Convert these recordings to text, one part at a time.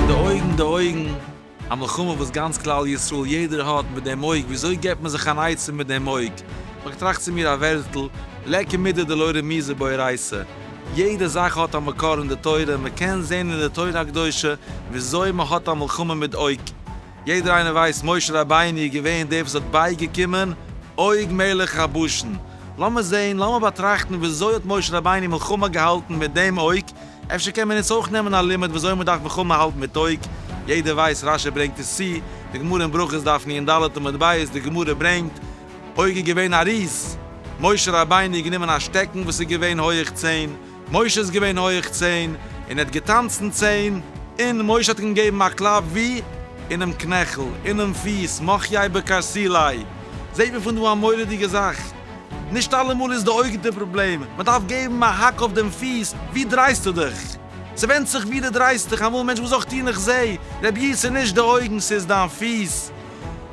די אויגן, די אויגן, א מלחמה וואס גאנץ כלל ישראל יעדער האט מיט דעם אויג, וויאזוי געבט מען זיך אן עצה מיט דעם אויג? האב איך געטראכט צו מיר א ווערטל, לקה מידי דלא רמיזה ביה רייסה, יעדע זאך האט א מקור אין די תורה, מען קען זען אין די תורה הקדושה וויאזוי מען האט א מלחמה מיט אויג, יעדער איינער ווייסט משה רבינו איז געווען דער וואס האט בייגעקומען עוג מלך הבשן, לאמיר זעהן לאמיר באטראכטן וויאזוי האט משה רבינו מלחמה געהאלטן מיט דעם עוג, אפשר קען מען אונז אויך נעמען א לימוד וויאזוי מען דארף מלחמה האלטן מיט עוג, יעדער ווייסט רש י ברענגט עס צו, די גמרא אין ברכות דף נ ד עמוד ב', די גמרא ברענגט, עוג איז געווען א ריז, משה רבינו האט גענומען א שטעקן וואס איז געווען הויעך צען, משה איז געווען הויעך צען, און ער האט געטאנצן צען, און משה האט אים געגעבן א קלאפ ווי? אינעם קנעכל, אינעם פיס, מחיי בקרסיליי. זעט מען פון דא א מורא'דיגע זאך. נישט אלעמאל איז די אויג די פראבלעם, מען דארף געבן א האק אויף דעם פיס, ווי דרייסטו דיך? ס'ווענדט זיך ווי די דרייסט דיך, אמאל מענטש וואס זאגסטו איך זעה, רבי'ס ס'נישט די אויגן ס'איז דיין פיס,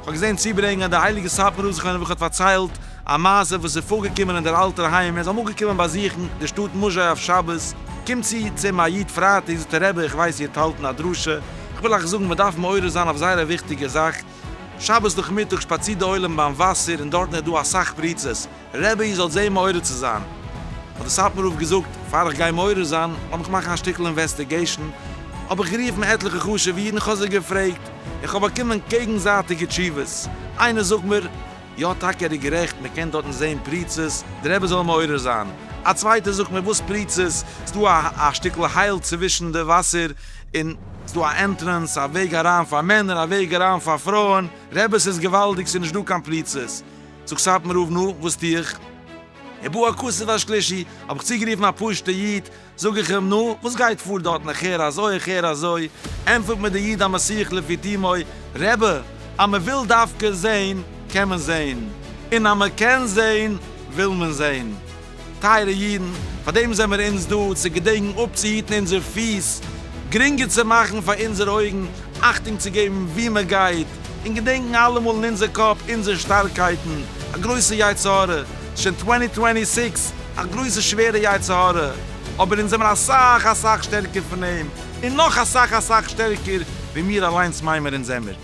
כ'האב געזען צוברענגען אז דער הייליגער סאטמאר רב זיך איינער וואך האט פארציילט א מעשה וואס איז פארגעקומען אין דער אלטער היים, ער איז אמאל געקומען באזוכן די שטאט מוזשאי אויף שבת, קומט צו צו אים א איד פרייטאג, זאגט ער רבי איך ווייס איר האט האלטן א דרשה, איך וויל אייך זאגן מען דארף מעורר זיין אויף זייער א וויכטיגע זאך, שבת נאכמיטאג שפאצירט דער עולם ביים וואסער און דארטן איז דא אסאך פריצות, רבי איך זאל זעהן מעורר צו זיין, האט די סאטמאר רב געזאגט, פאר איך גיי מעורר זיין לאמיר איך מאכן א שטיקל אינוועסטיגעישן, האב איך גערופן עטליכע חשובע אידן איך האב זיי געפרעגט, איך האב באקומען קעגנזייטיגע תשובות, איינער זאגט מיר, יא טאקע ער איז גערעכט מען קען דארטן זעהן פריצות, די רבי זאל מעורר זיין, א צווייטער זאגט מיר וואס פריצות, ס'דא א א שטיקל הייל צווישן די וואסער, און ס'דא א ענטרענס, א וועג אריין פאר מענער, א וועג אריין פאר פרויען, רבי ס'איז געוואלדיג ס'איז נישט דא קיין פריצות. זאגט סאטמאר רב נו וואס טו איך? און בא הכסף השלישי האב איך צוגערופן א פשוטע איד, זאג איך אים נו וואס גייט פאר דארטן איך הער אזוי איך הער אזוי, ענטפערט מיר דער איד המסיח לפי תומו, רבי אז מען וויל דווקא זעהן קען מען זעהן, און אז מען קען זעהן וויל מען זעהן. טייערע אידן, פאר דעם זעמער אונז דא, צו געדענקן אפצוהיטן אונזער פיס, גרינגער צו מאכן פאר אונזערע אויגן, אכטונג צו געבן וואו מען גייט, און געדענקן אלעמאל אין אונזער קאפ אונזערע שטארקייטן, א גרויסע יצר הרע, ס'איז שוין טווענטי טווענטי סיקס, א גרויסע שווערע יצר הרע, אבער אונז זעמער אסאך אסאך שטערקער פון אים, און נאך אסאך אסאך שטערקער ווי מיר אליינס מיימער אונז זעמער.